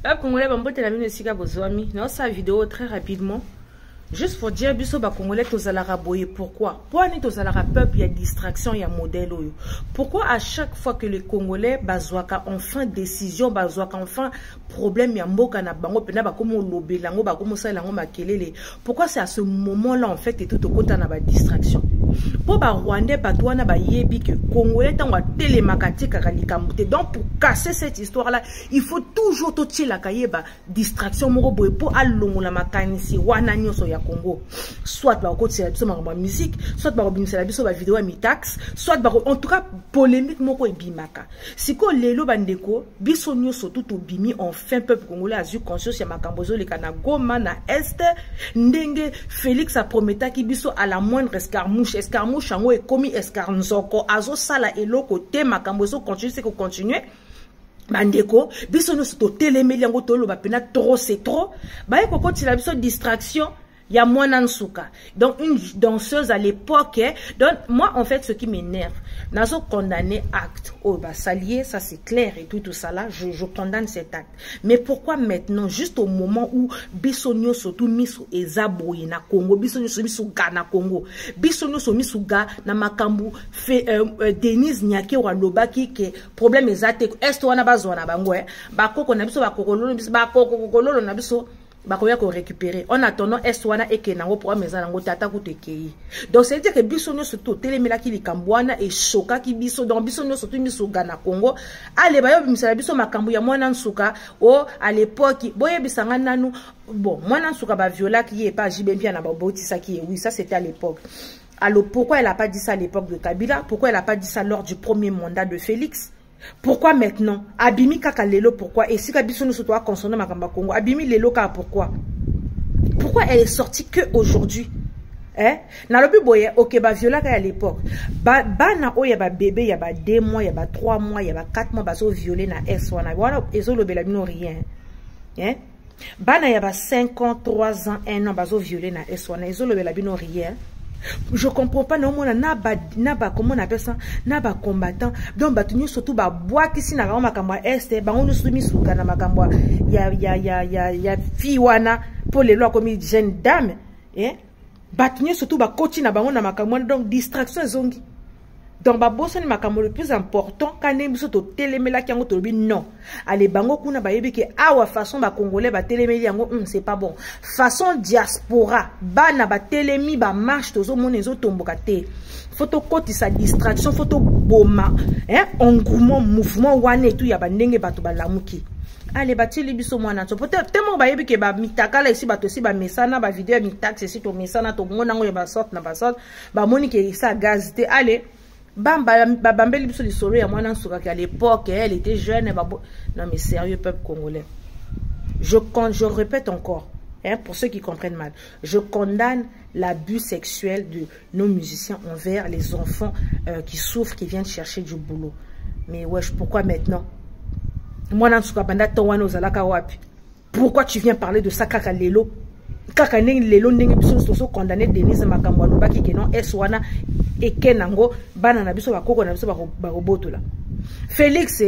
bacongolais bambote na bino esika bozwami naosala video très rapidement juste pour dire biso bacongolais tozalaka boye pourquoi mpo ani tozalaka peuple ya distraction ya modèle oyo pourquoi à chaque fois que les congolais bazwaka enfin décision bazwaka enfin problème ya mboka na bango mpena bakomi olobela yango bakomi osalela yango makelele pourquoi c'est à ce moment là en fait etu tokota na badistraction mpo barwandais bato wana bayebi ke congolais ntango atelemaka atikaka likambo te donc pour casser cette histoire là il faut toujours totyelaka ye badistraction moko boye mpo alongola makanisi wana nyonso ya congo soit bakokotisela biso makambo ya musique soit bakobimisela biso bavideo ya mitaxe soit bako en tout cas polémique moko ebimaka sikoyo lelo bandeko biso nyonso tu tobimi enfin peuple congolais azwi conscience ya makambo ezoleka na goma na est ndenge félix aprometaki biso à la moindre escarmouche escarmouche yango ekomi escarnzoko azosala eloko te makambo ezocontinue se kocontinue bandeko biso nyonso totelemeli yango toloba mpena trop c'est trop baye kokotela biso distraction ya mwana nsuka donc une danseuse à l'époque eh? donc moi en fait ce qui m'énerve nazo condamner acte oyo oh, basali ye ça c'est clair et tout tout ça là je, je condamne cet acte mais pourquoi maintenant juste au moment où biso nyonso tu miso eza boye na congo biso nyonso miso ga na congo biso nyonso miso ga na makambo fe, euh, euh, denise nyakero alobaki ke problème eza te est wana bazwa na bango eh? bakoko na biso bakokololo na biso bakokokololo na biso bakoya ko récupérer en attendant est wana eke nango programme eza nango te ata kutu ekei donc c'est dire que biso nyonso totelemelaki likambo wana eshokaki biso donc biso nyonso tu misuga na congo ale baye obimisela biso makambo ya mwana nsuka o oh, à l'époque boyebisa ngai nanu bon mwana nsuka baviolaki ye epa jibe mpia na babotisaki ye oui ça c'était à l'époque alors pourquoi elle a pas dit ça à l'époque de kabila pourquoi elle a pas dit ça lors du premier mandat de félix pourquoi maintenant abimi kaka lelo pourquoi esika biso nyonso toa consonne makambo ya kongo abimi lelo kaka pourquoi pourquoi elle est sortie que aujourd'hui eh? nalobi boye oke baviolaka ya l'époque ba, bana oyo ya babebe ya ba 2 mois ya ba 3 mois ya ba 4 mois bazoviole na s wana wana ezolobela bino rien eh? bana ya ba 5 ans 3 ans 1 ans bazo viole na es wana ezolobela bino rien je comprends pas naomona na ba na ba comment on appelle ça na ba combattant donc bato nyonso tu babwakisi na bango makambo ya este bango nyonso tu misuka na makambo ya ya ya ya ya fille wana mpo lelo akomi jeune dame eh? bato nyonso to bakoti na bango na makambo wana donc distraction ezongi donc babosani makambo le plus important ka ndenge biso totelemelaki yango tolobi non ale bango kuna bayebi ke awa façon bacongolais batelemeli yango mm, c'est pas bon façon diaspora bana batelemi bamarche tozomona ezotomboka te fo tokotisa distraction fo toboma engouement mouvement wana etu ya bandenge bato balamuki ale batili biso mwana to po te moko bayebi ke bamitakala esi bato esi bamesana bavideo ya mitaxe esi tomesana tomona yango ya basorte na basorte bamoni ke esa gaz te ale babambeli biso lisolo ya mwana nsukaki à l'époque elle était jeune babo non mais sérieux peuple congolais je, je répète encore hein, pour ceux qui comprennent mal je condamne l'abus sexuel de nos musiciens envers les enfants euh, qui souffrent, qui viennent chercher du boulot. Mais wesh, pourquoi maintenant Moi, dans ce banda ton wana ozalaka wapi. Pourquoi tu viens parler de ça kaka lelo kaka ndenge lelo ndenge biso nyonso tozo condamne denise makambo alobaki ke non es wana eke nango bana na biso bakoko na biso bakobotola félix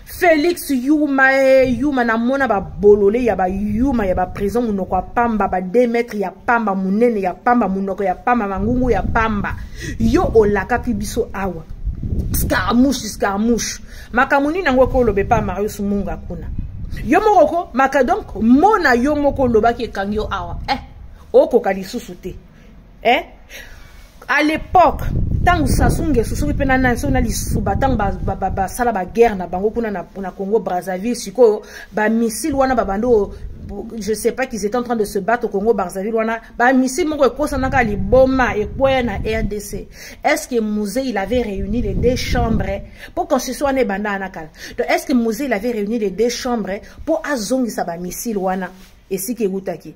Felix Yuma eh, Yuma namona ba bolole ya ba Yuma ya ba prison munoko ya pamba ba 2 mètres ya pamba munene ya pamba munoko ya pamba mangungu ya pamba yo olakaki biso awa scaramouche scaramouche makambo nini yango ekoloba epa marius munga kuna yo moko ko maka donc mona yo moko olobaki ekangi yo awa eh okoka lisusu te eh? à l'époque ntango sasu ngeso soki mpe nani soki na lisuba ntango basala baguerre na bango kuna na congo brazzaville sikoyo bamissile wana babandi oyo je sais pas qu'ils étaient en train de se battre au Congo Brazzaville wana ba missile moko ekosanaka liboma ekweya na RDC est-ce que Musée il avait réuni les deux chambres pour constitution wana ebanda na kala donc est-ce que Musée il avait réuni les deux chambres pour azongisa ba missile wana esika ewutaki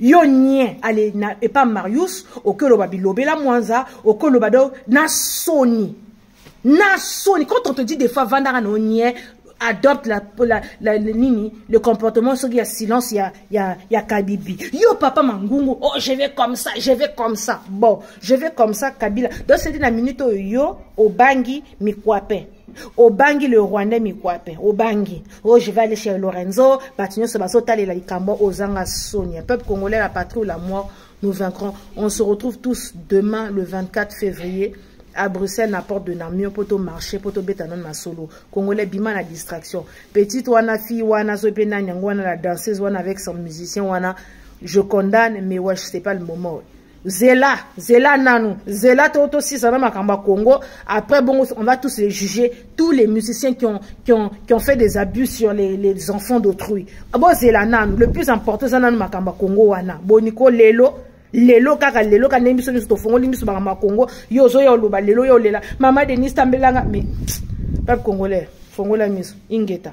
yo nie ale na epa marius oke oloba bilobela mwanza oke oloba do na soni na soni quand on te dit des fois vandaka na onie adopte la, la, la, la, nini le comportement soki ya silence ya, ya, ya kabibi yo papa mangungu oh je vais comme ça je vais comme ça bon je vais comme ça kabila donc sedi na minute oyo yo obangi mikwape obangi le rwandais mikwape obangi o oh, je vais aller chez lorenzo bato nyonso bazotalela likambo ozanga sonia peuple congolais la patrie ou la mort nous vaincrons on se retrouve tous demain le 24 février à bruxelles na porte de namio mpo tomarche mpo tobeta nano na solo congolais bima na distraction petite wana fille wana soki mpe nani yango wana la danseuse wana avec son musicien wana je condamne mais wesh c'est pas le moment zela zela nanu zela to tosisa na makambo ya congo après bongo on va tous les juger tous les musiciens qui ont, qui ont, qui ont fait des abus sur les, les enfants d'autrui bozela nanu le plus important eza nanu makambo ya congo wana boni ko lelo lelo kaka lelo ka ndenge biso nyonso tofongoli miso makambo ya congo yo ozoya oloba lelo yo olela mama denis tambelanga mais peuple congolais fongola miso ingeta